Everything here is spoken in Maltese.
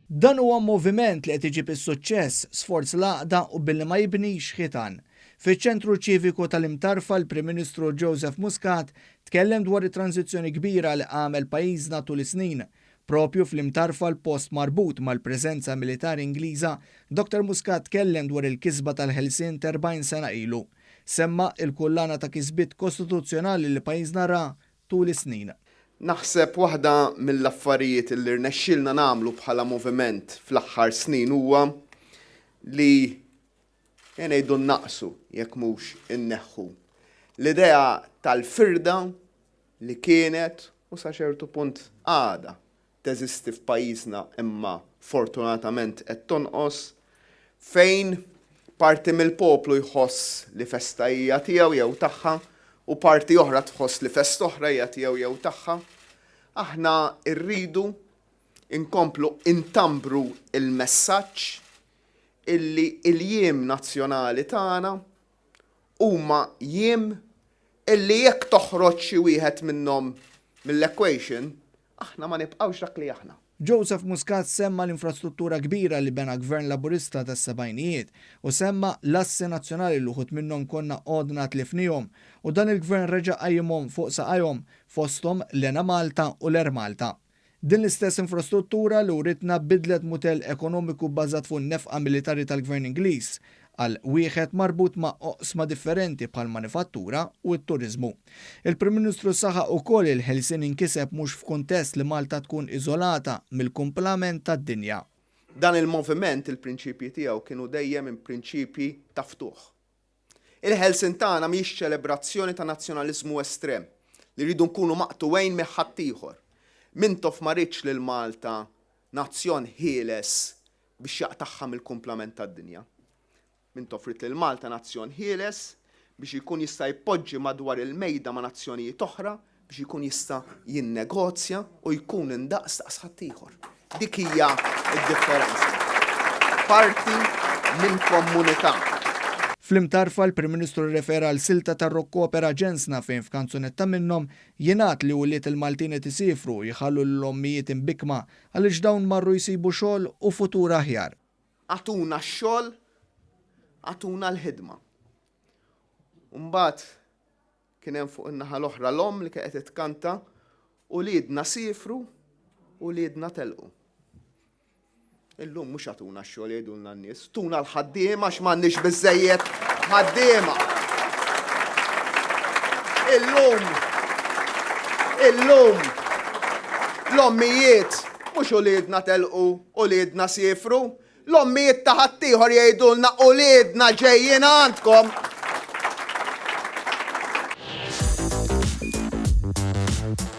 Dan huwa moviment li qed iġib is-suċċess, sforz l-għaqda u billi ma jibnix ħitan. Fiċ-Ċentru Ċiviku tal-Imtarfa l-Prim Ministru Joseph Muscat tkellem dwar it-tranżizzjoni kbira li għamel pajjiżna tul is-snin. Proprju fl-Imtarfa l-post marbut mal-preżenza militari Ingliża, Dr. Muscat tkellem dwar il-kisba tal-ħelsien t'erbgħin sena ilu. Semma' il-kullana ta' kisbiet kostituzzjonali li pajjiżna ra tul is-snin. Naħseb waħda mill-affarijiet li rnexxielna nagħmlu bħala moviment fl-aħħar snin huwa li ejja ngħidu nnaqqsu jekk mhux inneħħu l-idea tal-firda li kienet u sa ċertu punt għadha teżisti f'pajjiżna imma fortunatament qed tonqos, fejn parti mill-poplu jħoss li festa hija tiegħu jew tagħha u parti oħra tħoss li festa oħra hija tiegħu jew tagħha. Aħna rridu nkomplu ntambru l-messaġġ illi l-jiem nazzjonali tagħna huma jiem illi jekk toħroġ xi wieħed minnhom mill-equation, Aħna ma nibqgħux dak li aħna. Joseph Muscat semma l-infrastruttura kbira li bena Gvern Laburista tas-sebgħinijiet u semma l-assi nazzjonali li wħud minnhom konna għodna tlifniehom u dan il-Gvern reġa' qajjimhom fuq saqajhom, fosthom l-Enemalta u l-Air Malta. Din l-istess infrastruttura li writna biddlet mutell ekonomiku bbażat fuq in-nefqa militari tal-Gvern Ingliż għal wieħed marbut ma' oqsma differenti bħall-manifattura u t-turiżmu. Il-Prim Ministru saħaq ukoll il-ħelsien inkiseb mhux f'kuntest li Malta tkun iżolata mill-kumplament tad-dinja. Dan il-moviment il-prinċipji tiegħu kienu dejjem prinċipji ta' ftuħ. Il-ħelsien tagħna mhijiex ċelebrazzjoni ta' nazzjonaliżmu estrem li rridu nkunu maqtugħin mih ħaddieħor. Mintoff ma riedx lil Malta nazzjon ħieles biex jaqtagħha mill-kumplament tad-dinja. Int offrejt lil Malta nazzjon ħieles biex jkun jista' jpoġġi madwar il-mejda ma' nazzjonijiet oħra, biex jkun jista' jinnegozja u jkun indaqs daqs ħaddieħor. Dik hija d-differenza. Parti minn kommunità. Fl-imtarfa, l-Prim Ministru rrefera għal silta ta' Rocco Opera Ġensna fejn f'kanzunetta minnhom jingħad li ulied il-Maltin qed isiefru u jħallu lil ommijiet imbikkma Għaliex dawn marru jsibu xogħol u futur aħjar. Agħtuna x-xogħol, agħtuna l-ħidma. U mbagħad kien hemm fuq in-naħa l-oħra l-omm li kienet qed tkanta, Uliedna siefru, uliedna telqu. Illum mhux agħtuna x-xogħol jgħidulna n-nies. Tuna l-ħaddiema għax m'għandniex biżżejjed ħaddiema. Illum, illum, l-ommijiet mhux uliedna telqu, uliedna siefru, l-ommijiet ta' ħaddieħor jgħidulna uliedna ġejjin għandkom.